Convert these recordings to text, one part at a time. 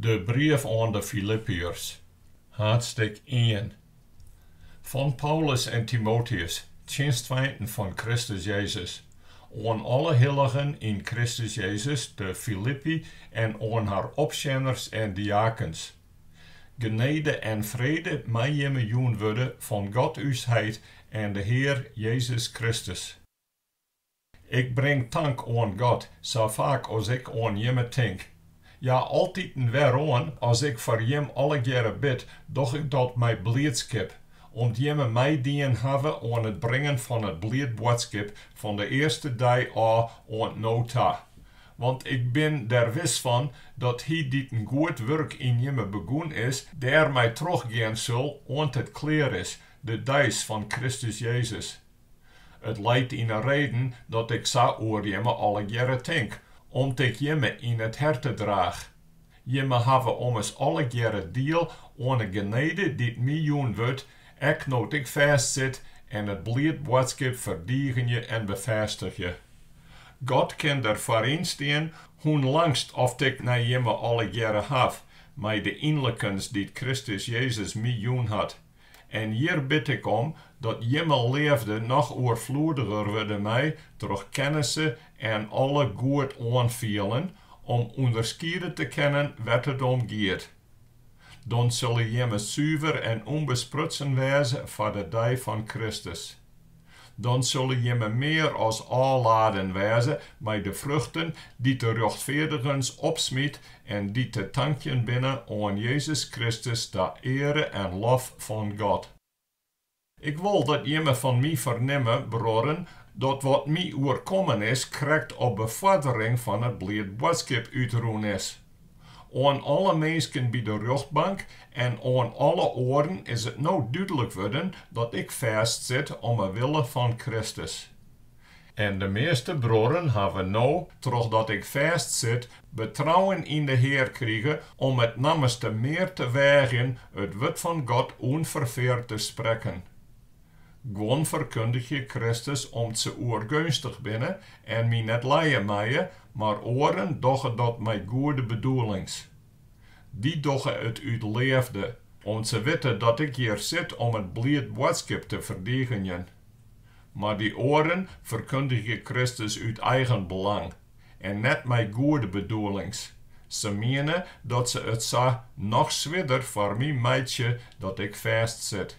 De brief oan de Filippeërs, haadsttik ien. Fan Paulus en Timoteus, tsjinstfeinten fan Kristus Jezus, oan alle hilligen yn Kristus Jezus te Filippi en oan har opsjenners en diakens. Genede en frede mei jimme jûn wurde fan God ús Heit en de Hear Jezus Kristus. Ik bring tank oan God sa faak as ik oan Jimme tink. Ja, altiten weroan, as ik foar Jim allegearre bid, doch ik dat mei bliidskip, om't Jimme meidien hawwe oan it bringen fan it bliid boadskip fan de earste dei ôf oant no ta. Want ik bin der wis fan dat Hy dy't in goed wurk yn Jimme begûn is, dêrmei trochgean sil oant it klear is, de deis fan Kristus Jezus. It leit yn 'e reden dat ik sa oer jimme allegearre tink, om't ik jimme yn it herte draach. Jimme hawwe ommers allegearre diel oan 'e genede dy't my jûn wurdt, ek no't ik fêst sit en it bliid boadskip ferdigenje en befêstigje. God kin der foar ynstean hoe'n langst oft ik nei jimme allegearre haw, mei de ynlikens dy't Kristus Jezus my jûn hat. En hjir bid ik om dat jimme leafde noch oerfloediger wurde mei troch kennisse en alle goed oanfielen om ûnderskiede te kinnen wêr't it om giet. Dan sille jimme suver en ûnbesprutsen wêze foar de dei fan Kristus. Dan sille jimme mear as ôfladen wêze mei de fruchten dy't de rjochtfeardigens opsmyt en dy't te tankjen binne oan Jezus Kristus ta eare en lof fan God. Ik wol dat jimme fan my fernimme, bruorren, dat wat my oerkommen is krekt op befoardering fan it bliid boadskip útrûn is. Oan alle minsken by de rjochtbank en oan alle oaren is it no dúdlik wurden dat ik fêst sit om 'e wille fan Kristus. En de measte bruorren hawwe no, trochdat ik fêst sit, betrouwen yn de Hear krige om it nammenste mear te weagjen it wurd fan God ûnferfeard te sprekken. Guon ferkundigje Kristus om't se oergeunstich binne en my net lije meie, mar oaren dogge dat mei goede bedoelings. Dy dogge it út leafde, om't se witte dat ik hjir sit om it bliid boadskip te ferdigenjen. Mar dy oaren ferkundigje Kristus út eigen belang en net mei goede bedoelings, se miene dat se it sa noch swierder foar my meitsje dat ik fêstsit.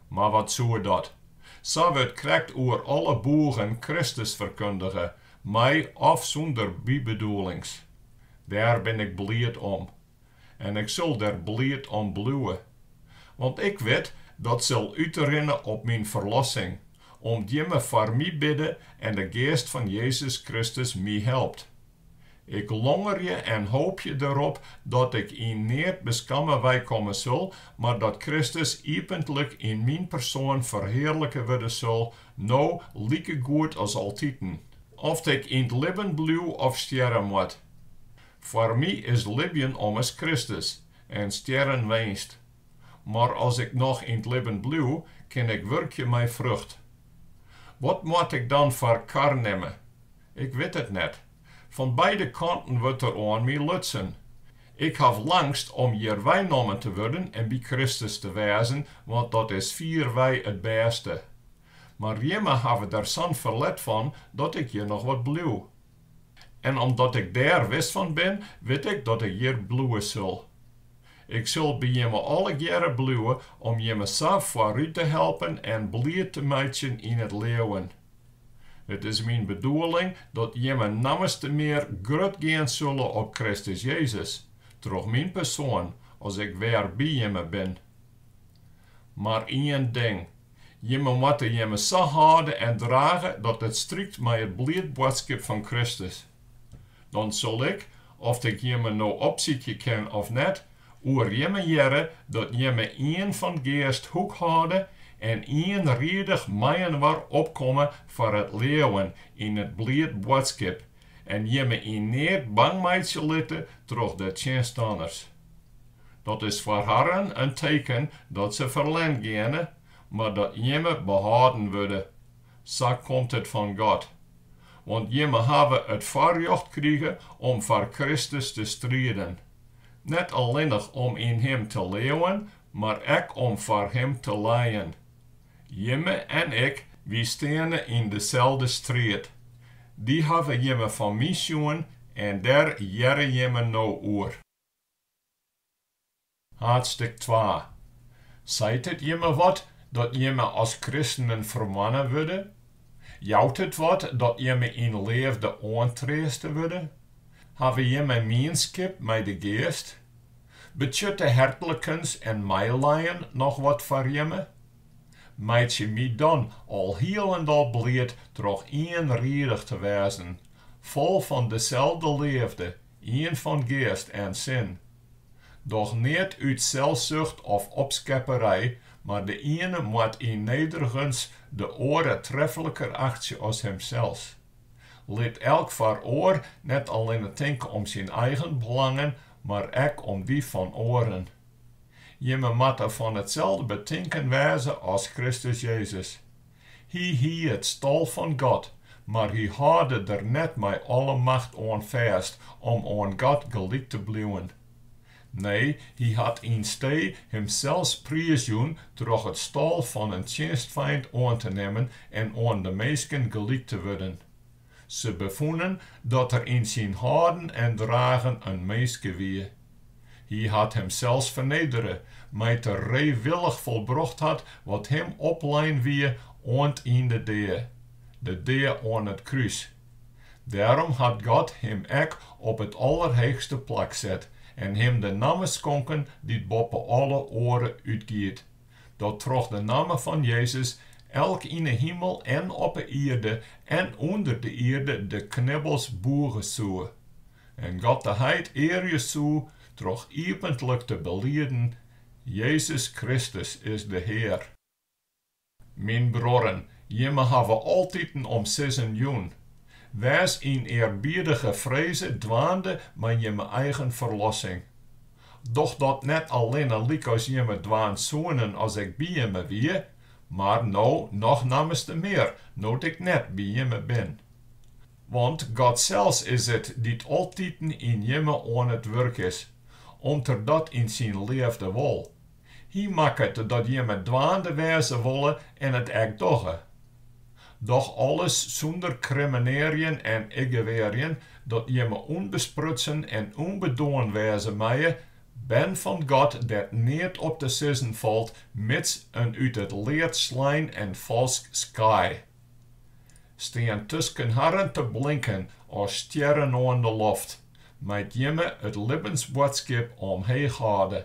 Mar wat soe dat? Sa wurdt krekt oer alle boegen Kristus ferkundige, mei of sûnder bybedoelings. Dêr bin ik bliid om. En ik sil der bliid om bliuwe. Want ik wit dat sil útrinne op myn ferlossing, om't jimme foar my bidde en de Geast fan Jezus Kristus my helpt. Ik longerje en hoopje derop dat ik yn neat beskamme weikomme sil, mar dat Kristus iepentlik yn myn persoan ferhearlike wurde sil, no likegoed as altiten, oft ik yn 't libben bliuw of stjerre moat. Foar my is libjen ommers Kristus en stjerren winst. Mar as ik noch yn 't libben bliuw, kin ik wurkje mei frucht. Wat moat ik dan foar kar nimme? Ik wit it net. Fan beide kanten wurdt der oan my lutsen. Ik haw langst om hjir weinommen te wurden en by Kristus te wêzen, want dat is fierwei it bêste. Mar jimme hawwe der sa'n ferlet fan dat ik hjir noch wat bliuw. En omdat ik dêr wis fan bin, wit ik dat ik hjir bliuwe sil. Ik sil by jimme allegearre bliuwe om jimme sa foarút te helpen en bliid te meitsjen yn it leauwen. It is myn bedoeling dat jimme nammeste mear grut gean sulle op Kristus Jezus, troch myn persoan, as ik wer by jimme bin. Mar ien ding, jimme moatte jimme sa hâlde en drage dat it strykt mei it bliid boadskip fan Kristus. Dan sil ik, oft ik jimme no opsykje kin of net, oer jimme hearre dat jimme ien fan geast hoekhâlde en ienriedich meiinoar opkomme foar it leauwen yn it bliid boadskip en jimme yn neat bang meitsje litte troch de tsjinstanners. Dat is foar harren in teken dat se ferlern geane, mar dat jimme behâlden wurde. Sa komt it fan God. want jimme hawwe it foarrjocht krige om foar Kristus te striden, net allinnich om yn Him te leauwen, mar ek om foar Him te lijen. Jimme en ik, wy steane yn deselde striid. Dy hawwe jimme fan my sjoen en dêr hearre jimme no oer. Haadstik twa. Seit it jimme wat dat jimme as kristenen fermoanne wurde? Jout it wat dat jimme yn leafde oantreaste wurde? Hawwe jimme mienskip mei de Geast? Betsjutte hertlikens en meilijen noch wat foar jimme? Meitsje my dan al hielendal bliid troch ienriedich te wêzen, fol fan deselde leafde, Ien fan geast en sin. Doch neat út selsucht of opskepperij, mar de iene moat yn nederigens de oare trefliker achtsje as himsels. Lit elk foar oar net allinne tinke om syn eigen belangen, mar ek om dy fan oaren. Jimme moatte fan itselde betinken wêze as Kristus Jezus. Hy hie it stal fan God, mar hy hâlde der net mei alle macht oan fêst om oan God gelyk te bliuwen. Nee, hy hat ynstee himsels priisjûn troch it stal fan in tsjinstfeint oan te nimmen en oan de minsken gelyk te wurden. Se befûnen dat er yn syn hâlden en dragen in minske wie. Hy hat himsels fernedere, mei't er reewillich folbrocht hat wat him oplein wie oant yn de dea, de dea oan it krús. Dêrom hat God him ek op it allerheechste plak set en him de namme skonken dy't boppe alle oare útgiet, Dat troch de namme fan Jezus elk yn 'e himel en op 'e ierde en ûnder de ierde de knibbels bûge soe en God de Heit earje soe troch iepentlik te beliden, Jezus Kristus is de Hear. Myn bruorren, jimme hawwe altiten om sizzen jûn. Wês yn earbiedige freze dwaande mei jimme eigen ferlossing. Doch dat net allinne lykas jimme dwaan soenen as ik by jimme wie, mar no noch nammenste mear no't ik net by jimme bin. Want God sels is it dy't altiten yn jimme oan it wurk is, om't er dat yn syn leafde wol, Hy makket dat jimme dwaande wêze wolle en it ek dogge. Doch alles sûnder krimmenearjen en iggewearjen, dat jimme ûnbesprutsen en ûnbedoarn wêze meie, bern fan God dêr't neat op te sizzen falt, mids in út it lead slein en falsk skaai. Stean tusken harren te blinken as stjerren oan de loft, mei't jimme it libbensboadskip omheech hâlde.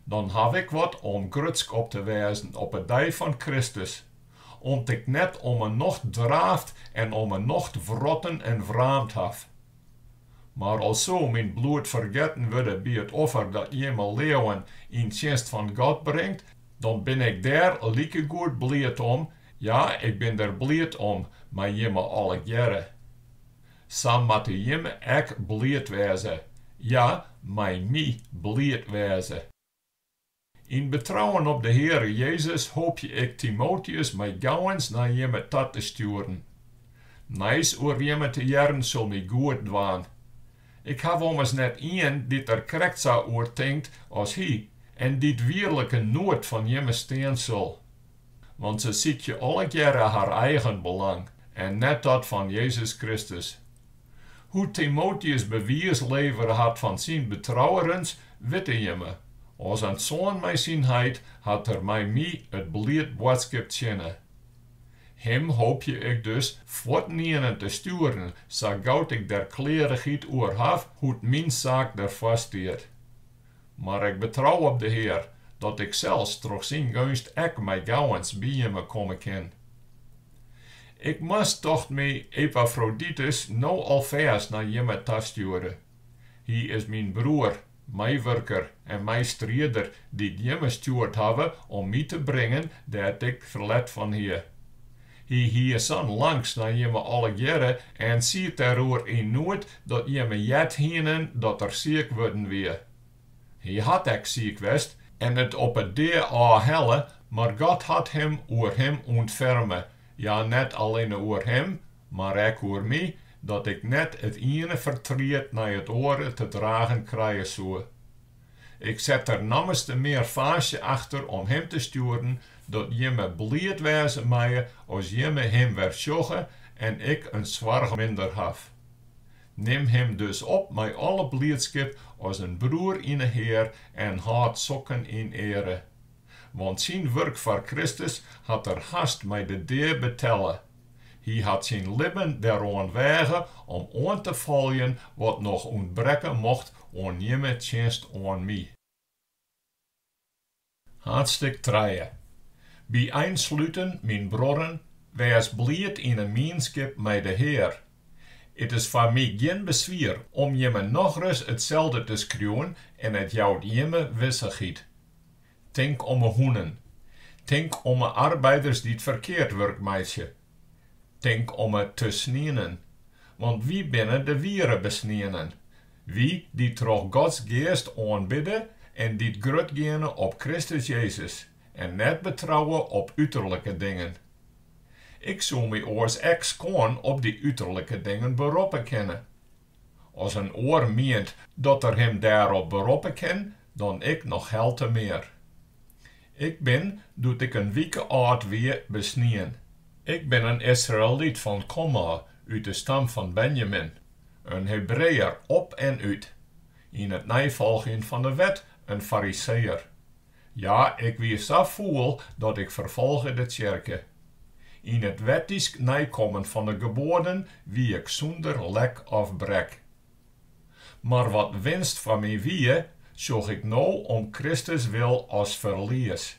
Dan haw ik wat om grutsk op te wêzen op 'e dei fan Kristus, om't ik net om 'e nocht draaft en om 'e nocht wrotten en wraamd haw. Mar al soe myn bloed fergetten wurde by it offer dat jimme leauwen yn tsjinst fan God bringt, dan bin ik dêr likegoed bliid om, ja, ik bin der bliid om mei jimme allegearre. Sa moatte jimme ek bliid wêze, ja, mei my bliid wêze. Yn betrouwen op de Heare Jezus hoopje ik Timoteus mei gauwens nei jimme ta te stjoeren. Nijs oer jimme te hearren sil my goed dwaan. Ik haw ommers net ien dy't der krekt sa oer tinkt as hy en dy't wierliken noed fan jimme stean sil. Want se sykje allegearre har eigen belang en net dat fan Jezus Kristus. Hoe't Timoteus bewiis levere hat fan syn betrouerens, witte jimme. As in soan mei syn heit hat er mei my it bliid boadskip tsjinne. Him hoopje ik dus fuortynienen te stjoeren sa gau't ik der klearichheid oer haw hoe't myn saak derfoar stiet. Mar ik betrou op de Hear, dat ik sels troch syn geunst ek mei gauwens by jimme komme kin. Ik moast, tocht my, Epafroditus no alfêst nei jimme ta stjoere. Hy is myn broer, meiwurker en meistrider, dy't jimme stjoerd hawwe om my te bringen dêr't ik ferlet fan hie. Hy hie sa'n langst nei jimme allegearre en siet dêroer yn noed dat jimme heard hienen dat er siik wurden wie. Hy hat ek siik west en it op 'e dea ôf helle, mar God hat him oer him ûntferme, ja, net allinne oer him, mar ek oer my, dat ik net it iene fertriet nei it oare te dragen krije soe. Ik set der nammerste mear faasje achter om him te stjoeren, dat jimme bliid wêze meie as jimme him wer sjogge en ik in soarch minder haw. Nim him dus op mei alle bliidskip as in broer yn de Hear en hâld sokken yn eare. Want syn wurk foar Kristus hat er hast mei de dea betelle. Hy hat syn libben deroan weage om oan te foljen wat noch ûntbrekke mocht oan jimme tsjinst oan my. Haadstik trije. By einsluten, myn bruorren, wês bliid yn 'e mienskip mei de Hear. It is foar my gjin beswier om jimme nochris itselde te skriuwen en it jout jimme wissichheid. Tink om 'e hûnen. Tink om 'e arbeiders dy't ferkeard wurk meitsje. Tink om 'e tesnienen. Want wy binne de wiere besnienen, wy dy't troch Gods Geast oanbidde en dy't grut geane op Kristus Jezus en net betrouwe op uterlike dingen. Ik soe my oars ek skoan op dy uterlike dingen beroppe kinne. As in oar mient dat er him dêrop beroppe kin, dan ik noch helte mear. Ik bin, doe't ik in wike âld wie, besnien. Ik bin in Israëlyt fan komôf, út de stam fan Benjamin, in Hebreeër op en út, yn it neifolgjen fan de Wet in Fariseeër, Ja, ik wie sa fûl dat ik ferfolge de tsjerke. Yn it wettysk neikommen fan 'e geboaden wie ik sûnder lek of brek. Mar wat winst foar my wie, sjoch ik no om Kristus wil as ferlies.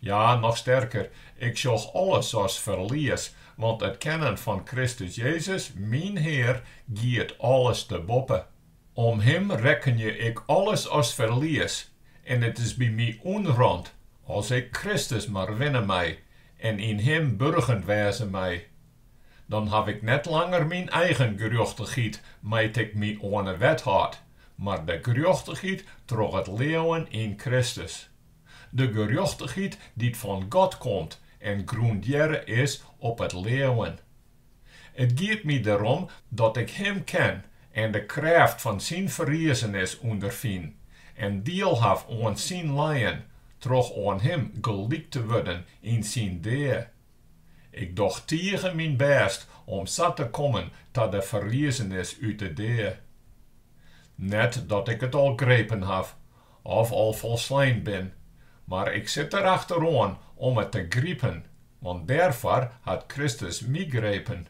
Ja, noch sterker, ik sjoch alles as ferlies, want it kennen fan Kristus Jezus, myn Hear, giet alles te boppe. Om him rekkenje ik alles as ferlies, en it is by my ûnrant, as ik Kristus mar winne mei en yn him burgen wêze mei. Dan haw ik net langer myn eigen gerjochtichheid mei't ik my oan 'e wet hâld, mar de gerjochtichheid troch it leauwen yn Kristus. De gerjochtichheid dy't fan God komt en grûndearre is op it leauwen. It giet my derom dat ik Him ken en de krêft fan Syn ferriezenis ûnderfyn en diel haw oan Syn lijen troch oan Him gelyk te wurden yn Syn dea. Ik doch tige myn bêst om sa te kommen ta de ferriezenis út de dea. Net dat ik it al grepen haw, Of al folslein bin. Mar ik sit der achter oan om it te gripen, want dêrfoar hat Kristus my grepen.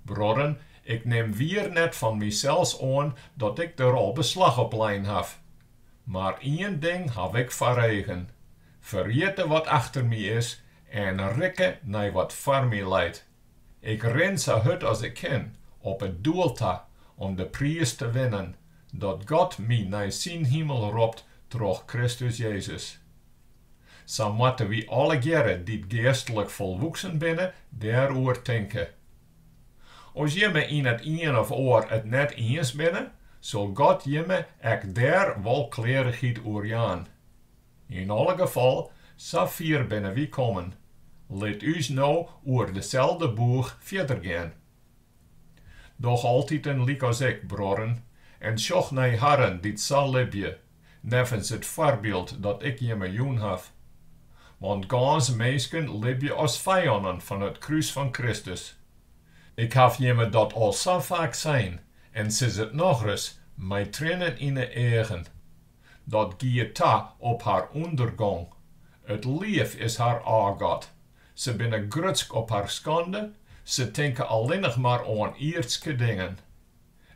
Bruorren, ik nim wier net fan mysels oan dat ik der al beslach op lein haw. Mar ien ding haw ik foar eagen, ferjitte wat achter my is en rikke nei wat foar my leit. Ik rin sa hurd as ik kin op it doel ta om de priis te winnen, dat God my nei syn himel ropt troch Kristus Jezus. Sa moatte wy allegearre dy't geastlik folwoeksen binne dêroer tinke. As jimme yn it ien of oar it net iens binne, sil God jimme ek dêr wol klearichheid oer jaan. Yn alle gefal, sa fier binne wy kommen, lit ús no oer deselde boech fierder gean. Doch altiten lykas ik, bruorren, en sjoch nei harren dy't sa libje, neffens it foarbyld dat ik jimme jûn haw. Want gâns minsken libje as fijannen fan it krús fan Kristus. Ik haw jimme dat al sa faak sein, en sis it nochris, mei trinnen yn 'e eagen. Dat giet ta op har ûndergong. It liif is har ôfgod. Se binne grutsk op har skande, se tinke allinnich mar oan ierdske dingen.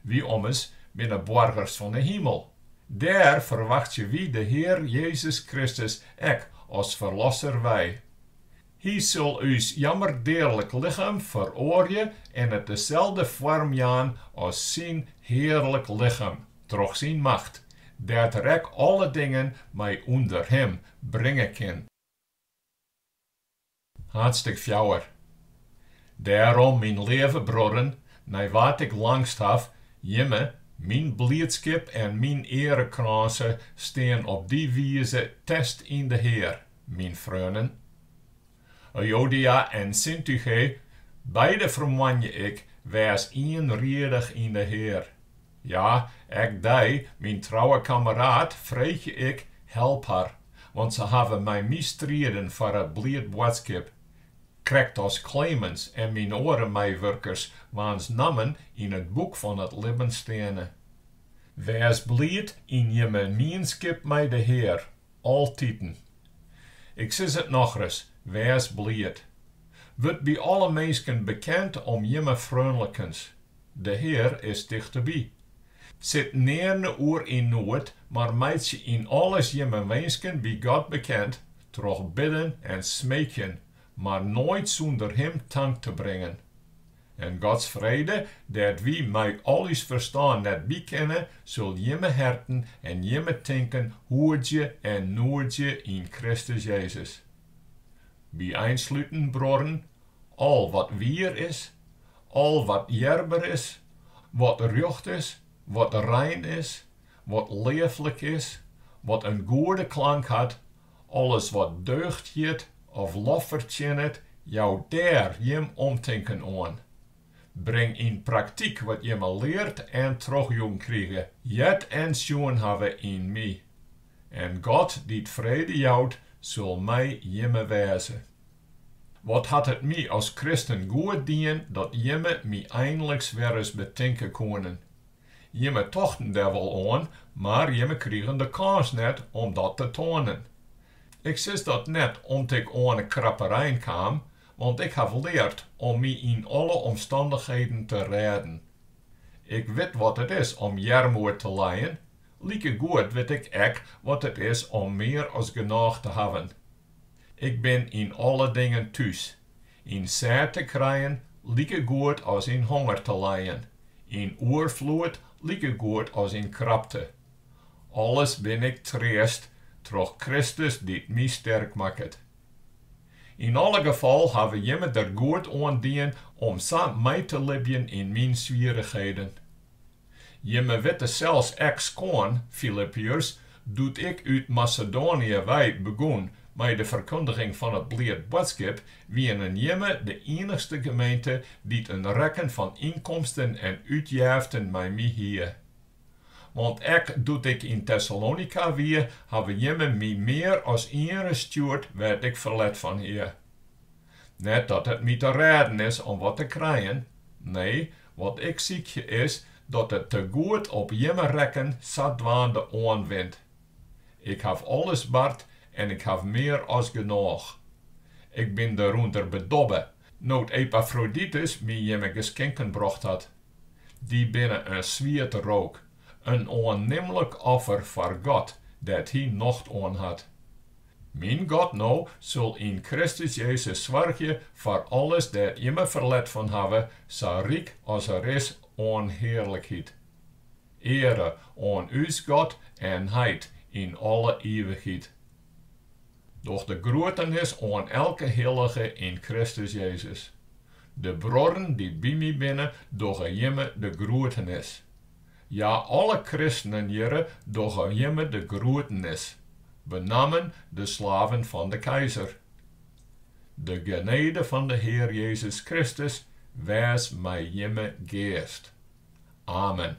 Wy ommers binne boargers fan 'e himel. Dêr ferwachtsje wy de Hear Jezus Kristus ek as Ferlosser wei. Hy sil ús jammerdearlik lichem feroarje en it deselde foarm jaan as syn hearlik lichem troch syn macht, dêr't er ek alle dingen mei ûnder him bringe kin. Haadstik fjouwer. Dêrom, myn leave bruorren, nei wa't ik langst haw, jimme, myn bliidskip en myn earekrânse stean op dy wize fêst yn de Hear. Myn freonen, Euodia en Syntyche, beide fermoanje ik, wês ienriedich yn de Hear. Ja, ek dy, myn trouwe kammeraad, freegje ik, help har, want se hawwe mei my striden foar it bliid boadskip, krekt as Klemens en myn oare meiwurkers, waans nammen yn it boek fan it libben steane. Wês bliid yn jimme mienskip mei de Hear, Altiten. Ik sis it nochris, wês bliid. Wurd by alle minsken bekend om jimme freonlikens. De Hear is tichteby. Sit nearne oer yn noed, mar meitsje yn alles jimme winsken by God bekend troch bidden en smeekjen, mar noait sûnder Him tank te bringen. En Gods frede, dêr't wy mei al ús ferstân net by kinne, sil jimme herten en jimme tinken hoedzje en noedzje yn Kristus Jezus. By einsluten, bruorren, al wat wier is, al wat earber is, wat rjocht is, wat rein is, wat leaflik is, wat in goede klank hat, Alles wat deugd hjit of lof fertsjinnet, jou dêr jim omtinken oan. Bring yn praktyk wat jimme leard en trochjûn krige, heard en sjoen hawwe yn my. En God, dy't frede jout, sil mei jimme wêze. Wat hat it my as kristen goed dien dat jimme my einliks wer ris betinke koenen, Jimme tochten dêr wol oan, mar jimme krigen de kâns net om dat te toanen. Ik sis dat net om't ik oan 'e krapperein kaam, want ik haw leard om my yn alle omstannichheden te rêden. Ik wit wat it is om earmoed te lijen, likegoed wit ik ek wat it is om mear as genôch te hawwen. Ik bin yn alle dingen thús, Yn sêd te krijen likegoed as yn honger te lijen, yn oerfloed likegoed as yn krapte. Alles bin ik treast troch Kristus dy't my sterk makket. Yn alle gefal hawwe jimme der goed oan dien om sa mei te libjen yn myn swierrichheden. Jimme witte sels ek skoan, Filippiërs, doe't ik út Masedoanië wei begûn mei de ferkundiging fan it bliid boadskip, wienen jimme de iennichste gemeente dy't in rekken fan ynkomsten en útjeften mei my hie. Want ek doe't ik yn Tessalonika wie, hawwe jimme my mear as ienris stjoerd wêr't ik ferlet fan hie. Net dat it my te rêden is om wat te krijen, nee, wat ik sykje is dat it tegoed op jimme rekken sadwaande oanwint. Ik haw alles bard en ik haw mear as genôch. Ik bin derûnder bedobbe, no't Epafroditus my jimme geskinken brocht hat. Dy binne in swiete rook, in oannimlik offer foar God, dêr't Hy nocht oan hat. Myn God no sil yn Kristus Jezus soargje foar alles dêr't jimme ferlet fan hawwe, sa ryk as er is oan hearlikheid. Eare oan ús God en heit yn alle ivichheid. Doch de groetenis oan elke hillige yn Kristus Jezus. De bruorren dy't by my binne dogge jimme de groetenis. Ja, alle kristenen hjirre dogge jimme de groetenis, benammen de slaven fan de keizer. De genede fan de Hear Jezus Kristus wês mei jimme geast. Amen.